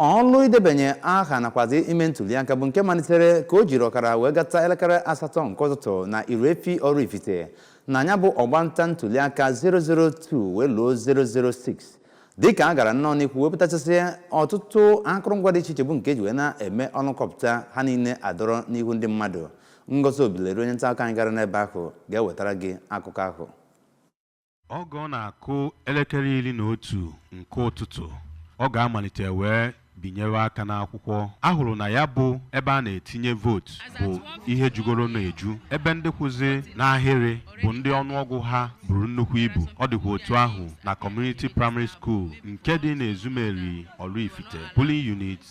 ọlụ idebanye aha nakwazi ime ntuliaka bụ nke malitere ka o jiri ọkara wee gata elekere asatọ nke ụtụtụ na irefi ọraifite na ya bụ ọgbanta ntuliaka 002 wee luo 006 dịka a gara nnọọ n'ihu wepụtachasị ọtụtụ akụrụngwa dị iche iche bụ nke e ji wee na-eme ọlụ kpọpụta ha niile a dọrọ n'ihu ndị mmadụ ngozi obileri onye nta akụkọ anyị gara n'ebe ahụ ga-ewetara gị akụkọ ahụ oge ọ na-akụ elekere iri na otu nke ụtụtụ ọ ga-amalite wee binyewe aka n'akwụkwọ a hụrụ na ya bụ ebe a na-etinye vootu bụ ihe jugoro na-eju ebe ndị kwụzi n'ahịrị bụ ndị ọnụọgụ ha buru nnukwu ibu ọ dịkwa otu ahụ na kọmuniti praịmarị skuul nke dị n'Ezumeri Ọraifite polling unit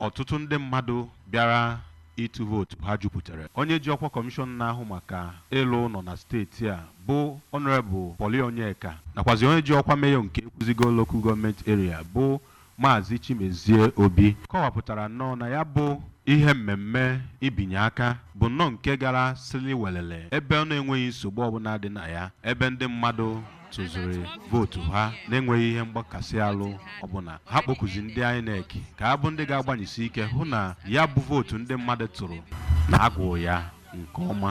Ọtụtụ ndị mmadụ bịara ịtụ vootu ha jupụtara. Onye ji ọkwa Kọmishọn na-ahụ maka ịlụ ụlọ na steeti a bụ Honourable Pauly Onyeka nakwazi onye ji ọkwa Mayor nke Ekwusigo Local Government Area bụ Maazị Chimezie Obi kọwapụtara nnọọ na ya bụ ihe mmemme ibinye aka bụ nnọọ nke gara sili welele ebe ọ na-enweghị nsogbu ọbụla dị na ya ebe ndị mmadụ tụziri vootu ha na-enweghị ihe mgbakasị alụ ọbụla ha kpọkuzi ndị INEC ka ha bụ ndị ga-agbanyesi ike hụ na ya bụ vootu ndị mmadụ tụrụ na a gụụ ya nke ọma